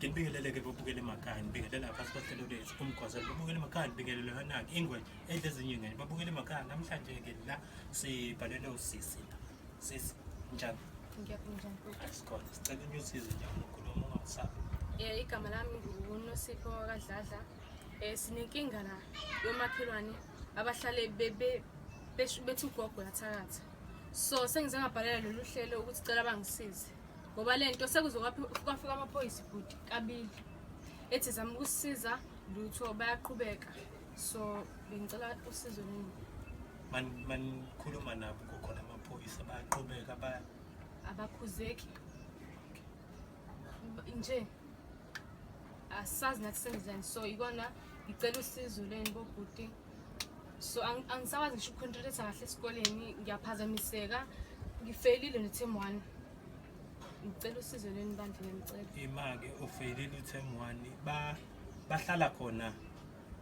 ngibingeleleke bobukele emakhaya ngibingelela phansi kohlelo lwethu umgwazelo babukele emakhaya ngibingelele hanaki ingwe edla ezinye ingane babukele emakhaya namhlanje ke la sibhalele usisi la sisi njani asikhona sicela unyusize nje ukhuluma ungasabi um igama lami ngunosipho kadladla Eh sinenkinga la yomakhelwane abahlale bebe bethi ugogo yathakatha. So sengize ngabhalela lolu hlelo ukuthi cela bangisize. Ngoba lento sekuzokwafika amaphoyisa ibhuti kabili. Ethi zama ukusiza lutho bayaqhubeka. So bengicela usizo nini? Man man khuluma nabo kukhona amaphoyisa bayaqhubeka baya abakhuzeki nje asazi nathi senzani so ikona ngicela usizo leni bobhuti so angisakwazi ngisho ucontrolate kahle esikoleni ngiyaphazamiseka ngifelile ne-term one ngicela usizo leni bantu ngiyamcela ima-ke ufelile u-term one bahlala khona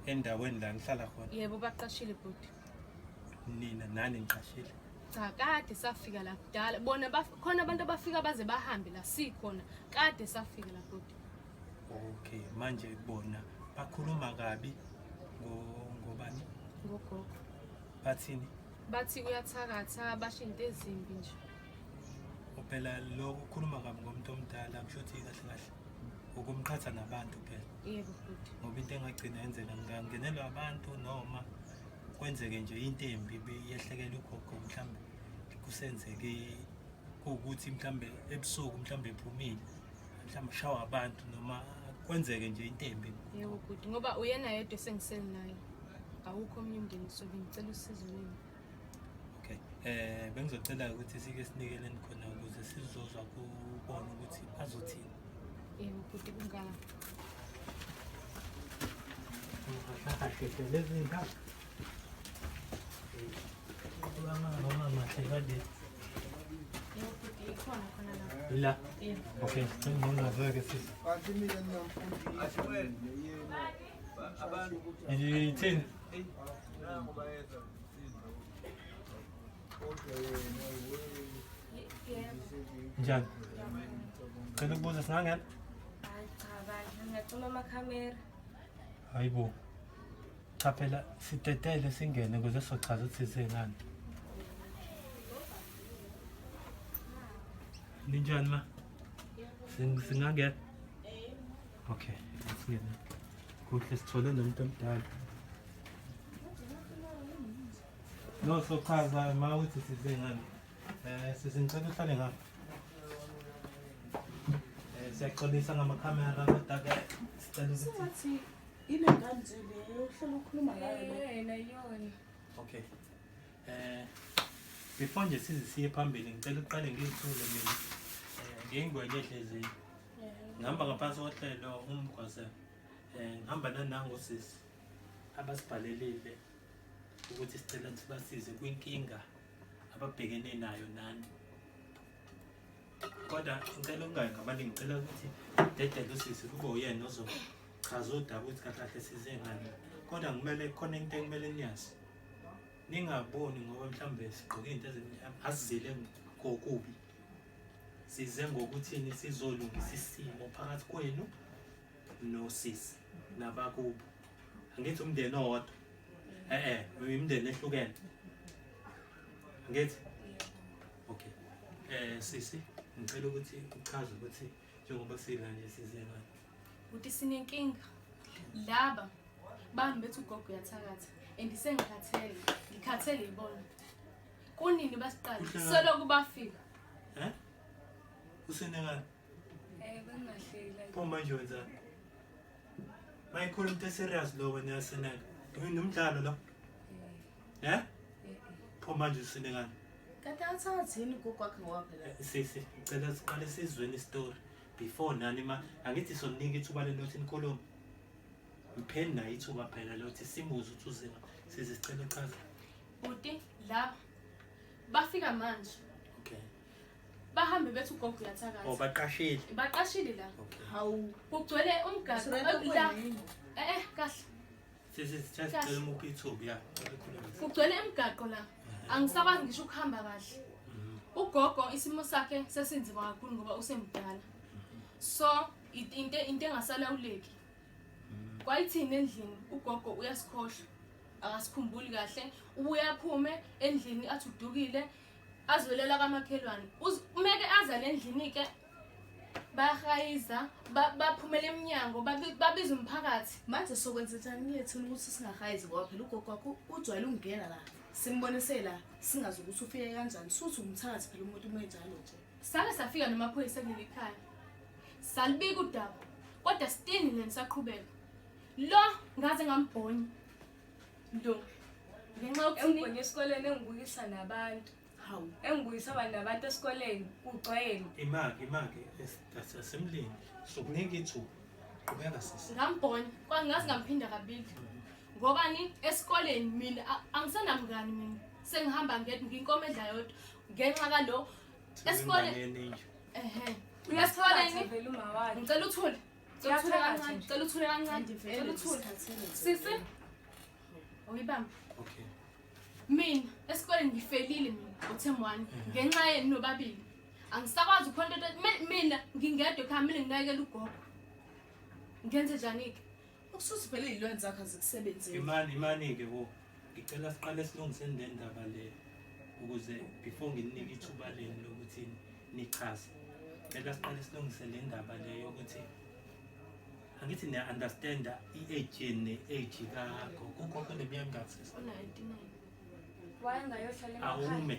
endaweni la ngihlala khona yebo baqashile bhuti nina nani ngiqashile cha kade safika la kudala bona khona abantu abafika baze bahambe la sikhona kade safika la bhuti okay manje bona bakhuluma kabi ngobani ngogogo bathini bathi uyathakatha basho into ezimbi nje phela lokho ukhuluma kabi ngomuntu omdala kusho ukuthi kahle kahle ukumqhatha nabantu phela yebo futhi ngoba into engagcina yenzeka ngingangenelwa abantu noma kwenzeke nje into embi beyehlekela ugogo mhlawumbe kusenzeke kuwukuthi mhlawumbe ebusuku mhlawumbe ephumile mhlawumbe ushawa abantu noma kwenzeke nje into embi yebo bhuti ngoba uyena yedwa esengisele naye awukho omnye umndeni sobe ngicela usizo lwenu Okay. Eh bengizocela ukuthi sike sinikeleni khona ukuze sizozwa kubona ukuthi bazothini. Eh ukuthi kungaka. Ngahlashe lezi ndawo. Kulama noma mahle kade. La. Okay, ngicela ngizwe ke sisi. Bathi mina nginamfundi. Ashwele. Yena. Abantu. Yithini? Njani? Cela ukubuza singangena? Hayi cha bandla ngiyacima amakhamera. Hayibo. Cha phela sitetele singene ukuze sochaza ukuthi sisengani. Ninjani ma? Sing- Singangena? Okay, asingene. Kuhle sithole nomuntu omdala. No, sochaza ma uthi size ngani. Eh, sisingicela uhlale ngapha. Eh, siyaxolisa ngamakhamera kodwa ke sicela ukuthi Sengathi ile ngane nje leyo uhlala ukhuluma ngayo lo. Yena yona. Okay. Eh before nje size siye phambili ngicela uqale ngizithule mina. Eh ngengwenye ehlezi ngihamba ngaphansi kohlelo umgwase um ngihamba nanangosisi abasibhalelile ukuthi sicela sibasize kwinkinga ababhekene nayo nani kodwa ngicela ungayi ngabani ngicela ukuthi dedele usisi kube uyena ozochaza udaba ukuthi kahle kahle size ngani kodwa kumele khona into ekumele niyazi ningaboni ngoba mhlawumbe sigqoke into ezimnyama asizile kokubi size ngokuthini sizolungisa isimo phakathi kwenu nosisi nabakubo angithi umndeni owodwa e-e imindeni ehlukene ngithi okay um sisi ngicela ukuthi uchaze ukuthi njengoba sila nje size ngani ukuthi sinenkinga laba bami bethi ugogo uyathakatha and sengikhathele ngikhathele yibona Kunini basiqala? Kuhle ngani? Soloku bafika. Eh? Usenengane. Eh bengahleli. Pho manje wenzani? Mayikhona umuntu eserious lo wena yaseneka. Yini umdlalo lo? Eh? Pho manje usenengane. Kade athathe yini gogo wakhe ngowaphela. Eh, Sisi, ngicela siqale sizweni story before nani ma angithi sonika ithuba lenothi nikhulume. ngipheni naye ithuba phela lokuthi simuze ukuthi uzima size sicela uchaza bhuti laba bafika manje okay bahambe bethi ugogo uyathakatha oh baqashile baqashile la hawu kugcwele umgaqo la eh eh kahle sisi sithathe sicela umuphi ithuba ya kugcwele emgaqo la angisakwazi ngisho ukuhamba kahle mhm. ugogo isimo sakhe sesinzima kakhulu ngoba usemdala mhm. so into into engasalawuleki kwayithini endlini ugogo uyasikhohlwa akasikhumbuli kahle ubuye aphume endlini athi udukile azwelela kamakhelwane umeke aza le ndlini-ke bahayiza baphumela emnyango babiza umphakathi manje sokwenza njani kuyethula ukuthi singahayizi ngoba phela ugogo wakho ujwayele ukungena la simbonise la singazi ukuthi ufike kanjani suthi umthakathi phela umuntu umenjalo nje sake safika namaphoyisa kuleli khaya salibika udaba kodwa still nina nisaqhubeka lo ngaze ngambhonya lo ngenxa yokuthini engibonye esikoleni engibukisa nabantu hawu engibuyisa abantu nabantu esikoleni kugcwele imake imake asemlini sokunika ithuba qhubeka sisi ngambhonya kwangazi ngamphinda kabili ngobani esikoleni mina a- angisenamngani mina sengihamba ngedwa nginkomedla yodwa ngenxa kalo Esikoleni. Ehhe. Uyasithola yini? Vele umawakhe. Ngicela uthule. Ngicela uthule Uyathakathwa kancane. nje. Ngicela uthule kancane. Ngicela uthule. Sisi. Uyibamba. Okay. Mina esikoleni ngifelile mina uThem one ngenxa yenu nobabili. Angisakwazi ukhonto mina ngingedwa ekhaya mina nginakekela ugogo. Ngenze njani ke? Usuthi vele izilwane zakho azikusebenzeli. Imani imani ke wo. Ngicela siqale silungiseni le ndaba le ukuze before nginike ithuba lenu lokuthi nichaze. Ngicela siqale silungise le ndaba le yokuthi angithi niya understand i-age ne age ka gogo kukhokho neminyaka emingaki sisi? Wayengayohlala emakhaya. Awume.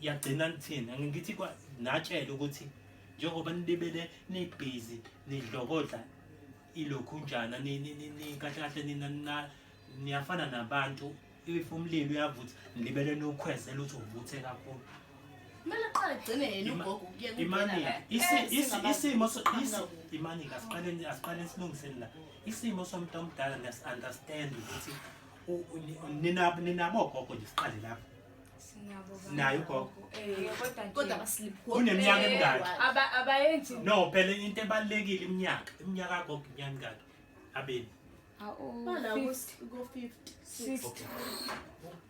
yagcina nithini angithi natshela ukuthi njengoba nibebele nibhizi nidlokodla ilokhu njana kahle kahle nina niyafana nabantu if umlilo uyavutha nilibele niwukhwezela ukuthi uvuthe kakhulu kumele qale gcine yena ugogo isimo imani asiqaleni asilungiseni la isimo somuntu omdala ngiyasunderstand ukuthi ninabo ninabo ogogo nje siqale lapho naye ugogo uneminyaka emingaki abayenzi no phela into ebalulekile iminyaka iminyaka agogo iminyaka emingaki abeni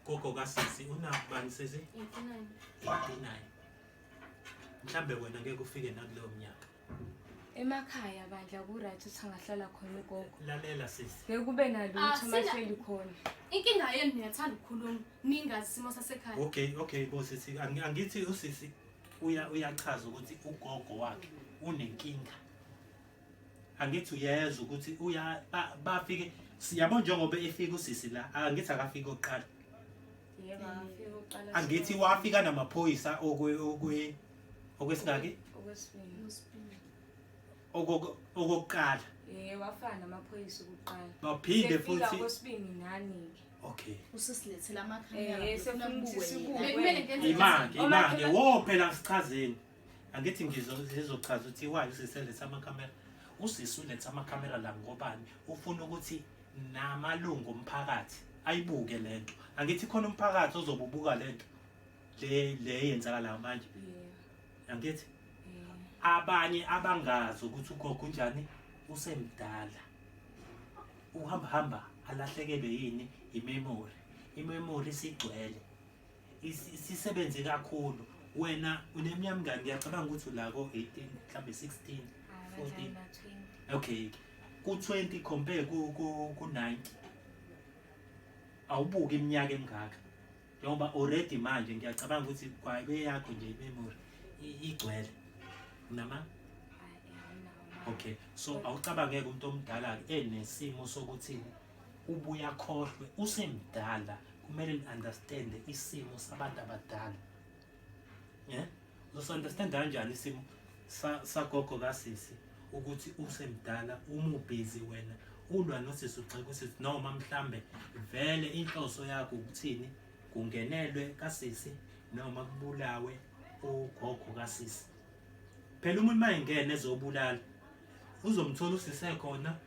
gogo kasisi unabani sisi 89 mhlambe wena ngeke ufike nakuleyo mnyaka emakhaya bandla ku-right ukuthi angahlala khona ugogo lalela sisi bekube nalutho ah, mahleli khona inkinga yenu niyathanda ukukhuluma ningazi isimo sasekhaya okay okay bo sisi angithi usisi uyachaza ukuthi ugogo wakhe unenkinga angithi uyeza ukuthi uya bafike siyabo njengoba efika usisi la angithi akafika oqala angithi wafika namaphoyisa okwe okwe okwesingaki okwesibili Okwesibili. Okok- okokuqala eh wafana namaphoyisa okuqala baphinde Sefika futhi kwesibili nani ke okay usesilethela amakhamera Eh, sefuna sefuna ukuthi kubuke sibuke. yena. Bekumele ngenze imake Oma- imake Oma- wo phela ngichazeni angithi ngizo- ngizochaza ukuthi why usiseletha amakhamera usisi uletha amakhamera la ngobani ufuna ukuthi namalungu omphakathi ayibuke lento angithi khona umphakathi ozobubuka lento le le yenzakalayo manje angithi abanye abangazi ukuthi ugogo unjani usemdala uhamba hamba alahlekelwe yini imemory imemory sigcwele isisebenze kakhulu wena uneminyaka mngani ngiyacabanga ukuthi ula ko-18 mhlawumbe 16 14 okay ku-20 compare ku-90 awubuki iminyaka emingaka njengoba already manje ngiyacabanga ukuthi kwabe yakho nje imemory igcwele unama okay so awucabangeke umuntu omdala enesimo sokuthi ubuya khohlwe usemdala kumele ni-understande isimo sabantu abadala Yeah. Uzosunderstand kanjani isimo sagogo kasisi ukuthi usemdala umubhizi wena ulwa nosisi ugxeka usisi noma mhlambe vele inhloso yakho ukuthini kungenelwe kasisi noma kubulawe ugogo kasisi phela umuntu mayengena ezobulala uzomthola usise khona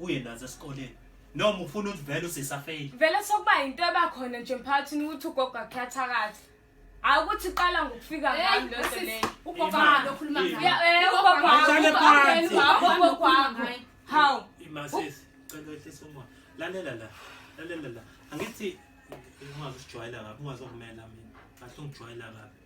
uye nazo esikoleni noma ufuna ukuthi vele usisafeyile vele sokuba yinto ebakhona nje emphakathini ukuthi ugogo akhathakathi hayi ukuthi iqala ngokufika ngani lento leyo how imasisi cela wehlisa umoya lalela la lalela la angithi ungazi usijwayela kabi ungazi okumela mina kahle ungijwayela kabi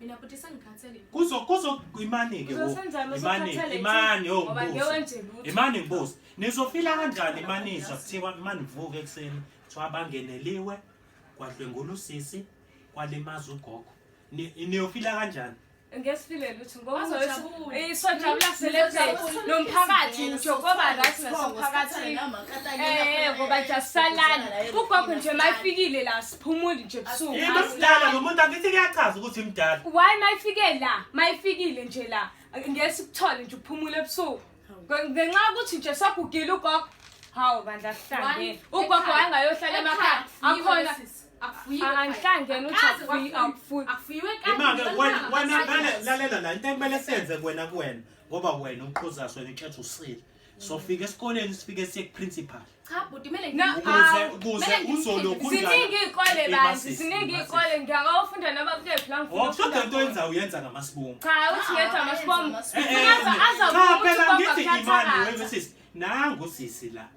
Mina futhi sengikhathele. Kuzo kuzo imani ke wo. Imani imani yo. Imani ngibuza. Nizofila kanjani imani izwa kuthiwa imani vuke ekseni. Kuthiwa bangeneliwe kwadlwengula usisi kwalimaza ugogo. Niyofila kanjani? Ngesifile lutho. sojabula selebhe nomphakathi ngisho koba right nasemphakathini eh ngoba nje asisalani ugogo nje mayifikile la siphumuli nje busuku imdala nomuntu angithi kuyachaza ukuthi imdala why mayifike la mayifikile nje la ngeke sikuthole nje uphumule ebusuku ngenxa ukuthi nje sagugile ugogo hawu bandla sihlangene ugogo wayengayohlala emakhaya akhona angihlangene uthiufuyiweimake wena vele lalela la into ekumele senze kuwena kuwena ngoba wena uqhuza sona ikhetha usile sofika esikoleni sifike siye kuprincipal ukuze uzolokhunziningi iy'kole banzi ziningi iy'kole ngiyakawufunda noma kukephi la ngifuna into yenza uyenza ngamasibomu cha uthi ngetha amasibomu azakuthi nangu sisi la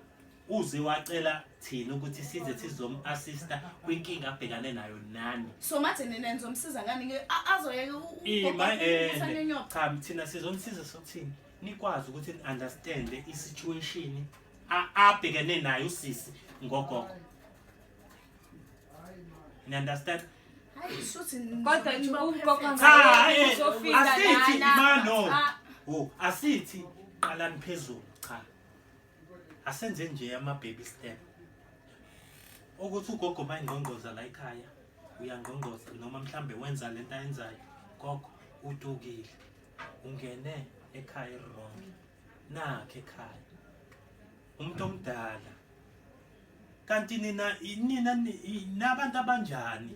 uze wacela thina ukuthi size sizom-assista kwinkinga abhekane nayo nani so mathe nina nizomsiza ngani ke A- azoyeke u- u- Ey, my eh, ukusana end. inyoka. cha thina sizomsiza sokuthini nikwazi ukuthi ni-understande i-situation a- abhekene nayo usisi ngogogo ni-understand Hayi, shuthi n- Kodwa nje ugogo bawuphefetha. Cha, Cha, eh, uzofika asithi lana. ma no Ah. wo asithi qalani phezulu cha asenze nje ama baby step ukuthi ugogo uma ingqongqoza la ekhaya uyangqongqoza noma mhlambe wenza lento ayenzayo gogo utukile ungene ekhaya wrong nakhe ekhaya umuntu omdala kanti nina nina nabantu abanjani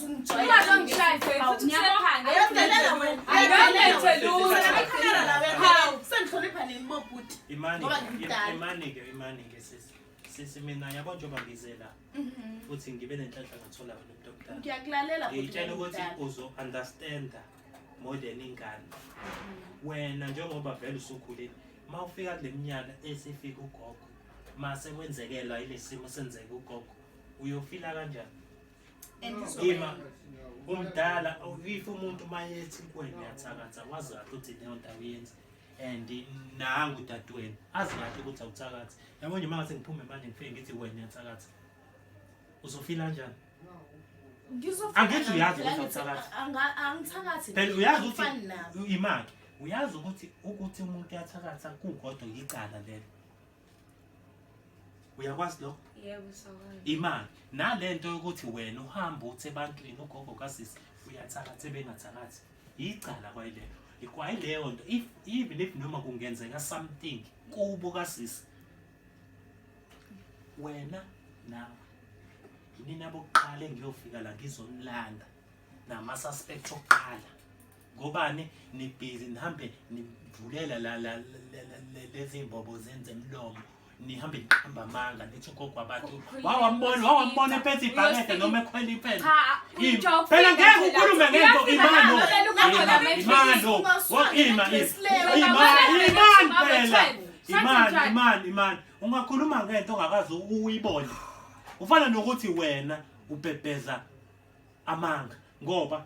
sesimina yabo njengoba ngize la mhm. futhi ngibe nenhlanhla ngathola wena umuntu omdala ngiyakulalela ngitshela ukuthi uzo understanda more than ingane mhm. wena njengoba vele usukhulile uma ufika kule minyaka esifika ugogo mase kwenzekelwa ile simo senzeka ugogo uyofila kanjani Ngima umdala if umuntu mayethi kuwena uyathakatha wazi kahle ukuthi leyo nto awuyenzi and nangu dadewenu azi kahle ukuthi awuthakathi yabo nje mangase ngiphume manje ngifike ngithi wena uyathakatha uzofila kanjani angithi uyazi ukuthi awuthakathi angithakathi phela uyazi ukuthi imaki uyazi ukuthi ukuthi umuntu uyathakatha kukodwa yicala lelo uyakwazi lokho yebo sakwazi imali nalento yokuthi wena uhamba uthi ebantwini ugogo kasisi uyathakatha bengathakathi yicala kwayilelo ikwayileyo nto if even if noma kungenzeka something kubo kasisi wena nawe yinina bokuqala engiyofika la ngizonilanda nama-suspect okuqala ngobani nibhizi nihambe nivulela la la lezi mbobo zenze mlomo nihambe niqamba amanga nithi ugogo abantu wawambona wawambona ephethe ibhakede noma ekhwela impela phela ngeke ukhulume ngento imano imano ima imani imani phela imani imani imani ungakhuluma ngento ongakazi uyibone ufana nokuthi wena ubhebheza amanga ngoba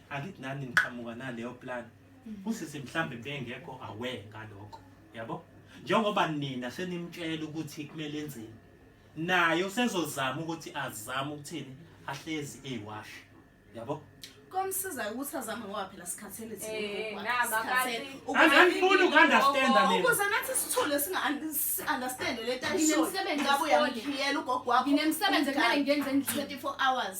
angithi nani niqhamuka naleyo plan mm. usisi mhlambe bengekho aware ngalokho yabo njengoba nina senimtshela ukuthi kumele enzeni naye usezozama ukuthi azame ukuthini ahlezi eyiwash yabo komsiza ukuthi azame ngoba phela sikhathele eh, angifuni uku-understanda mina ukuze nathi sithule singa-understande le tayisoyabuyamuphiyela ugogo wakho nginemsebenzi ekumele ngenze 24 hours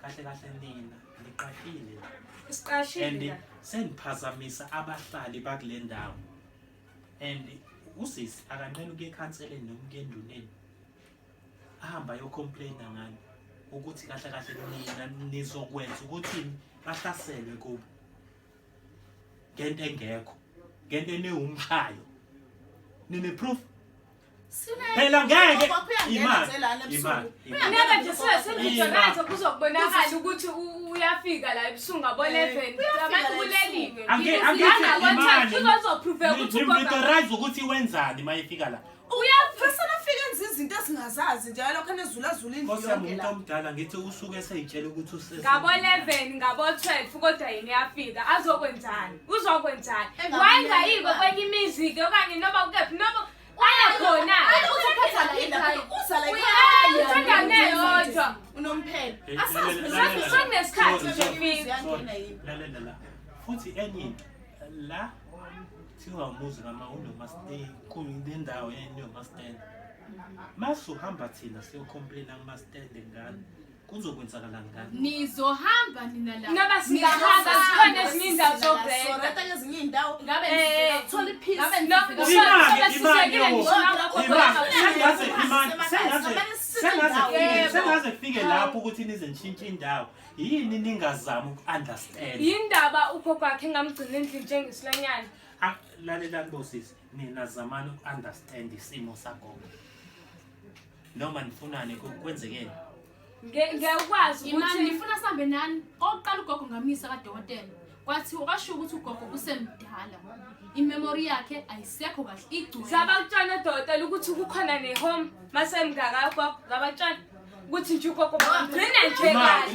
kahle kahle nina niqashile and isiqashile sengiphazamisa abahlali bakule ndawo and usisi akanqeni ukuya ekhanseleni noma ukuya enduneni ahamba ayocomplaina ngani ukuthi kahle kahle nina nizokwenza ukuthi bahlaselwe kubo ngento engekho ngento enewumshayo nine-proof Phela ngeke imali imali. Ngeke nje sesizwe manje kuzokubonakala ukuthi uyafika la ebusuku ngabo 11 abantu kuleliwe. Angeke imali. Uzoprove ukuthi uzoprove ukuthi wenzani mayefika la. Uyafasana afike enza izinto esingazazi nje lokho anezula zula indlu yonke la. Kosa umuntu omdala ngithi usuke eseyitshela ukuthi usese. Ngabo 11 ngabo 12 kodwa yini yafika azokwenzani? Uzokwenzani? Wayengayiko kwenye imizi ke okanye noma kephi noma Aya khona. Ayi uzophatha la ekhaya. Uza la ekhaya. Uyayithenga neyodwa. Unomphela. Asazi phela. Sekunesikhathi nje fika. Lalela la. Futhi enye into la kuthiwa umuzi kama unomastendi kunendawo yayinomastendi masuhamba thina siyokhomplina kumastendi ngani kuzokwenzakalani ngani nizohamba nina la ngaba singahamba sikhona ezinye indawo zobheka ezinye indawo ngabe ngithola iphisi ngabe ngithola sisekile ngisho ngakho sengaze imani sengaze sengaze sengaze fike lapho ukuthi nize nishintshe indawo yini ningazama uku-understand yindaba ukho kwakhe engamgcina endlini njengesilanyana ah, lalelani bosisi nina zamani uku-understand isimo sagogo noma nifunani kwenzekeni ngekwazi ukuthi nifuna sambe nani oqala ugogo ngamisa kadokotela kwathiwa kwasho ukuthi ugogo kusemdala imemori yakhe ayisekho kahle igcwele sabakutshana odokotela ukuthi kukhona nehome masemngaka ugogo ngabakutshana ukuthi nje ugogo ngigcine nje kahle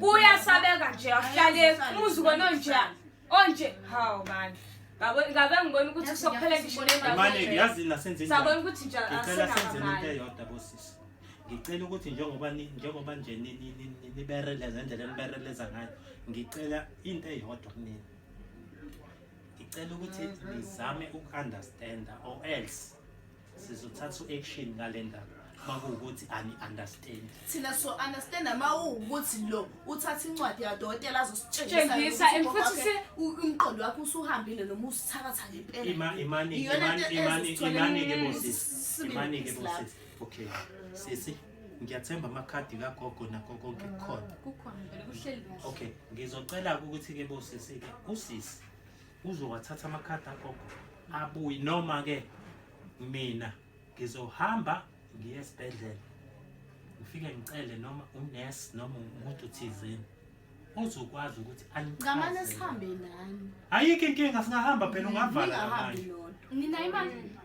kuyasabeka nje ahlale umuzi kona onje onje hawu manje ngabe ngabe ngibona ukuthi kusokuphela ngisho nendawo manje ngiyazi nasenze njani sabona ukuthi nje ngicela senze into eyodwa bosisi ngicela ukuthi njengoba njengoba nje nibereleza indlela nibereleza ngayo ngicela into eyodwa kunini ngicela ukuthi nizame uku-understanda or else sizothatha u-action ngale ndaba makuwukuthi ani-understand thina so understand mawuwukuthi lo uthatha incwadi yadokotela azositshengisa futhi se umqondo wakho usuhambile noma usithakatha ngempelaimani-ke bosisimanike bosisi okay sisi ngiyathemba amakhadi kagogo nakho konke kukhona okay ngizocela ukuthi-ke bosisi-ke usisi uzowathatha amakhadi agogo abuye noma ke mina ngizohamba ngiye esibhedlela ngifike ngicele noma unesi noma umuntu thizeni ozokwazi ukuthi angiqamane sihambe nani ayikho inkinga singahamba phela ungavana ningahamba nodwa nina imali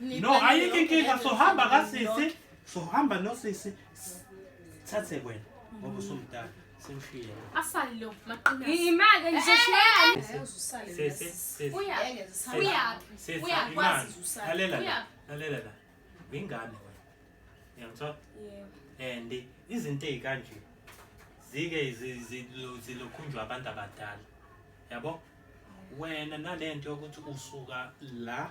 No, ayikho inkinga sohamba kasisi, sohamba nosisi. Thathe wena ngoba usumdala. Simshiye. Asali lo maqina. Imake nje shiyani. Usale. Sisi, sisi. Uya. Uya. Sisi, Uya imali. kwazi usale. Lalela la. Uya. Lalela la. Ingane wena. Uyangithola? Yebo. And izinto ezikanje zike zi- zilu- zilokhunjwa abantu abadala. Yabo? Wena nalento yokuthi usuka la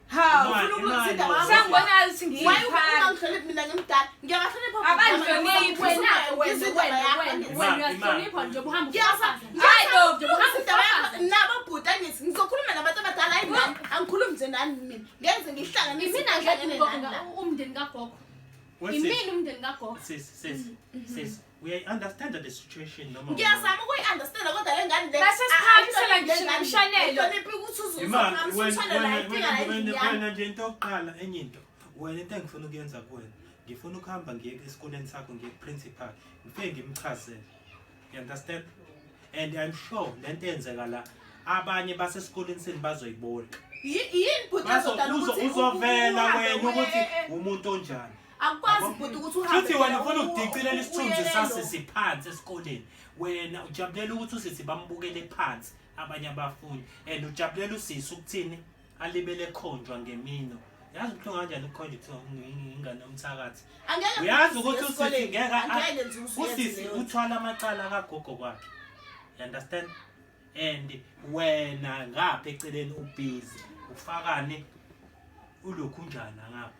ngizokhuluma nabantu abadala hayi nani angikhulumi nje nani mina ngenze ngihlanganise umndeni kagogo imini umndeni kagogo uyayi-understanda the situation noma ngiyazama ukuyi-understanda kodwa le ngane le- Base siphakamisela ngisho le ngane le, nomshanelo. ayihloniphi ukuthi uze Ima, uzophakamisela wena- umshanelo, wena- ayidinga wena- endlini wena- yami. wena nje into yokuqala enye into wena into engifuna ukuyenza kuwena ngifuna ukuhamba ngiye esikoleni sakho ngiye ku-principal ngifike ngimchazele you understand and i'm sure le nto eyenzeka la abanye basesikoleni senu bazoyibona Yi- yini bhuti Bazo- ezodala uzo- ukuthi u- uzovela uhambe wena uye- ukuthi eh, eh. umuntu onjani akukwazi bhuti ukuthi uhambe Futhi wena phela ufuna u- ukudicilela u- isithunzi uyelelo. sasisi phansi esikoleni. Wena ujabulela ukuthi usisi bambukele phansi abanye abafundi and ujabulela usisi ukuthini alibele khonjwa ngemino. Yazi ukuthi kanjani ukukhonjwa kuthiwa ungi- ingane yomthakathi. Angeke Uyazi bhuti ukuthi usisi esikoleni. ngeke a- Angeke nje usuyenze usisi leyo nto. uthwala amacala akagogo kwakhe. You understand? And wena ngapha eceleni ubhizi ufakane ulokhu njana ngapha.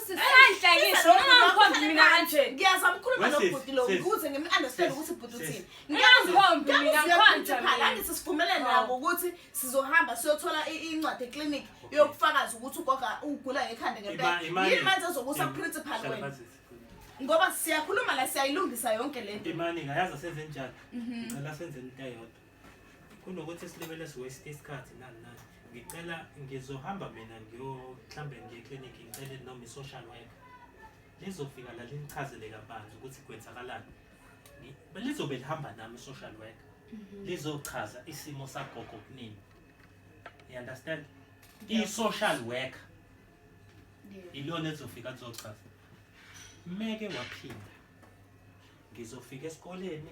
Engangihlekisi noma ngikhombi mina kanje. Ngiyazama ukukhuluma Wesisi, nobhuti lo sis. ukuze ngim-understand Sis, ukuthi ubhuti sis. uthini. Engangikhombi Ngiyazi mina siyaphupha ngikhonja phela, mina. angithi sivumelene Oh. nabo ukuthi sizohamba siyothola i- incwadi eklinikhi Okay. yokufakaza ukuthi ugoga ugula ngekhanda Ima- ngempela. imagine- Yini manje ezokusa Im- principal Hlala wena? phansi. Ngoba siyakhuluma la siyayilungisa yonke le nto. Imani ngayazi senze njani. Ngicela senze into eyodwa. kunokuthi silibele siwaste isikhathi nani nani ngicela ngizohamba mina ngiyohlambe ngiye eklinikhi ngicele noma i-social worker lizofika la linichazele kabanzi ukuthi kwenzakalani lizobe lihamba nami i-social worker mhm. lizochaza isimo sagogo kunini you understand i-social worker ilona ezofika lizochaza meke waphinda ngizofika esikoleni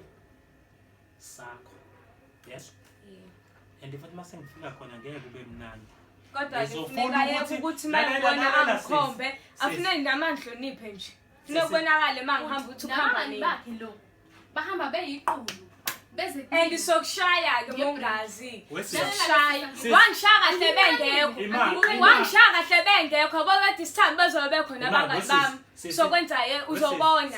sakho yes yeah. and futhi mase ngifika khona ngeke kube mnandi kodwa ngifuneka yeke ukuthi mayibona angikhombe afune nami angihloniphe nje funeka ubonakale ma ngihamba ukuthi ukuhamba nini bakhe lo bahamba beyiqulu and sokushaya-ke mongazi sokushaya wangishaya kahle bengekho wangishaya kahle bengekho bokade isithandi bezobe bekhona abangani bami sokwenza ye uzobona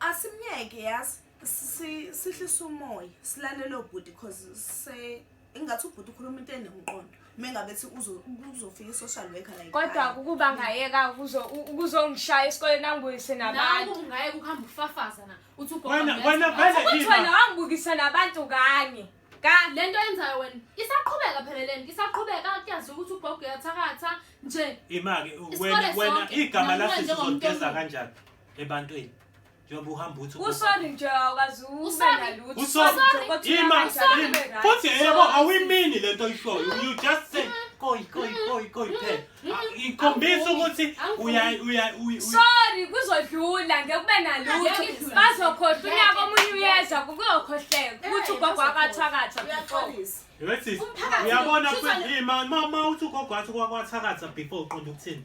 asimyeke yazi sihlisa umoya silalele obhuti cause se ingathi ubhuti ukhuluma into enemqondo mengabe thi uzofika i-social worker like kodwa ukuba ngayeka ukuzongishaya esikoleni angibuyise nabantu ungayeka ukuhamba ufafaza na uthi uthi wena wangibukisa nabantu kanye le nto yenzayo wena isaqhubeka phela le nto isaqhubeka kuyaziwa ukuthi ugogo uyathakatha nje ima-ke wena igama lasizizogeza kanjani ebantwini njengoba uhamba uthi usoni nje awukazi futhi yebo awuyimini le nto oyishoyo you just say koi koi koi koi phela ikhombisa ukuthi uya uya sorry kuzodlula ngeke kube nalutho bazokhohlwa unyaka omunye uyeza kuyokhohleka ukuthi ugogo akathakatha Yethis uyabona kwima mama uthi ugogo wathi kwakwatharatha before uqonda ukuthini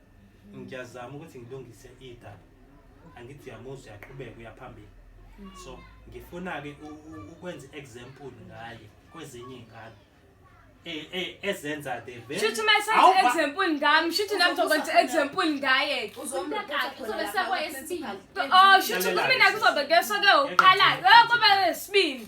ngiyazama ukuthi ngilungise idaba angithi uyamuzwa uyaqhubeka uyaphambili so ngifuna-ke ukwenza i-example ngaye kwezinye iy'ngane e, e, ezenza the shuthi uma esenza i-example ngami shuthi nami zokwenza i-example ngaye-ke o shuthi kumina kuzobe keso-ke uqalayo kube sibili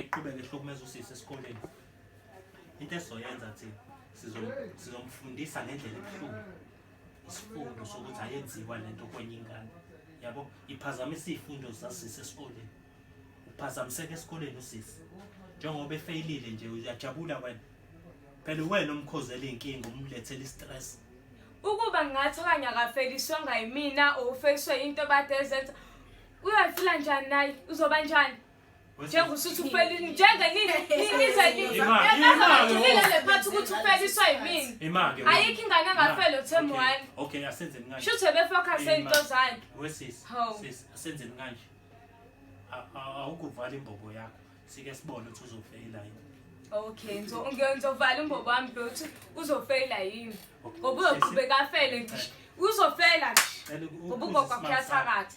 eqhubeke ehlukumeza usisi esikoleni into esizoyenza thi sizomfundisa ngendlela ebuhlungu isifundo sokuthi ayenziwa le nto kwenye ingane yabo iphazamisa iy'fundo zasisi esikoleni uphazamiseka esikoleni usisi njengoba efeyilile nje uyajabula wena phela uwena omkhozela iy'nkinga umlethela i-stress ukuba ngathi okanye akafeliswanga yimina or ufeliswe yinto bade ezenza uyafila njani naye uzoba njani njengoba usuthi ufelile njengenini nizeliile le phathi ukuthi ufeliswa yimini ayikho ingane engafele uthemu wani shuthi ebefokhase into zakhe asenzeni kanje awukuvala imbobo yakho sike sibone ukuthi uzofeyila yini okay ngizovala imbobo wami lokuthi uzofeyila yini ngoba uzoqhubeka afele ngisho uzofela ngisho ngoba ugogo akuyathakatha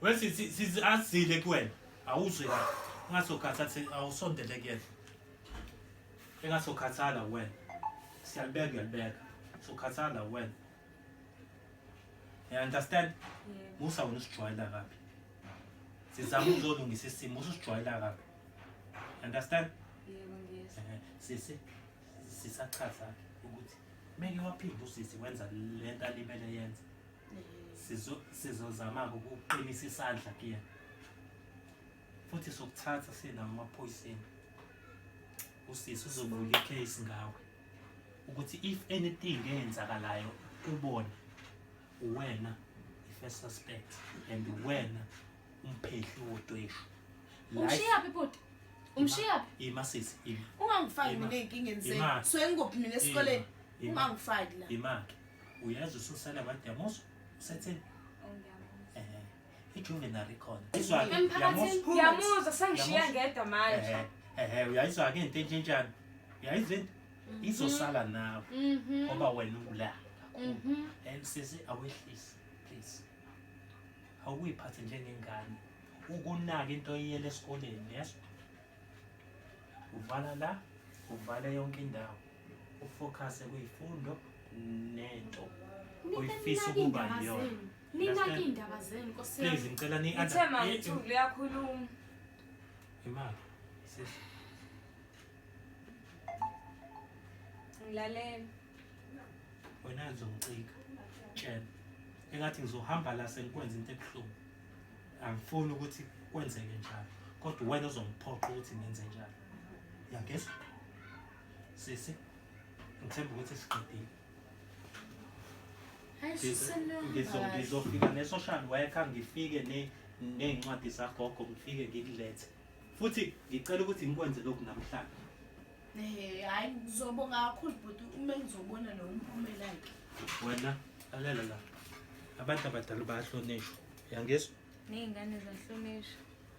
Well sisi sisi azile kuwena. Awuzwe la. Ungasokhatha thi awusondele kuyena. Engasokhathala wena. Siyalibeka uyalibeka. Sokhathala wena. You understand? Yebo. Musa wena usijwayela kabi. Sizama ukuzolungisa isimo usijwayela kabi. You understand? Yebo ngiyezwa. Ehe, Sisi sisachaza ukuthi meke waphinde usisi wenza lento alibele yenza. sizozama-ke ukuqinisa isandla kuyena futhi sokuthatha sinawo amaphoyiseni usisi uzovula icase ngawe ukuthi if anything eyenzakalayo kubona uwena i-first suspect and uwena umphehli wodweshu umshiyaphi bhuti umshiyaphi ima sisi ima ungangifaki mina enkingeni sengikuphi mina esikoleni ungangifaki la imake uyazi ususala kwademoso usetheni ijuvenile ikhona yamuzwa sengishiya ngedwa manje ehe uyayizwa-ke into entshintshanto uyayizwa into mhm. izosala nawe mhm. ngoba wena ula kakhulu mhm. and sisi awehlisi please awuyiphathe njengengane ukunaka into oyiyela esikoleni yezwa uvala la uvala yonke indawo ufokhase kuyifundo nento oyifisa ukuba yiyona ninake iy'ndaba zenu nkosi yami please ngicela ni Ithe mawethulu liyakhuluma imali sis ngilalela wena ngizongicika tshela engathi ngizohamba la sengikwenza into ebuhlungu angifuni ukuthi kwenzeke njalo kodwa wena uzongiphoqa ukuthi ngenze njalo yangizwa Sisi, ngithemba ukuthi siqedile. Hayi Ngizo- Ngizofika ne-social worker ngifike ne- ney'ncwadi zagogo ngifike ngikulethe futhi ngicela ukuthi ngikwenze lokhu namhlanje Eh, hayi ngizobonga kakhulu bhuti uma ngizobona lo umphumela ke. wena lalela la abantu abadala bayahlonishwa yangizwa Ney'ngane zahlonishwa.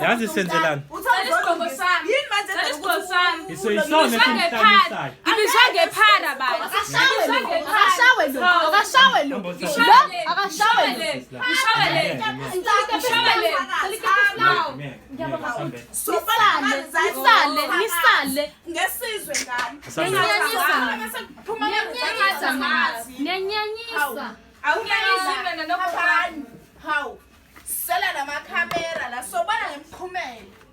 yazi senzelani ngibisangephara bantu Sisela namakhamera la sobana ngemphumela.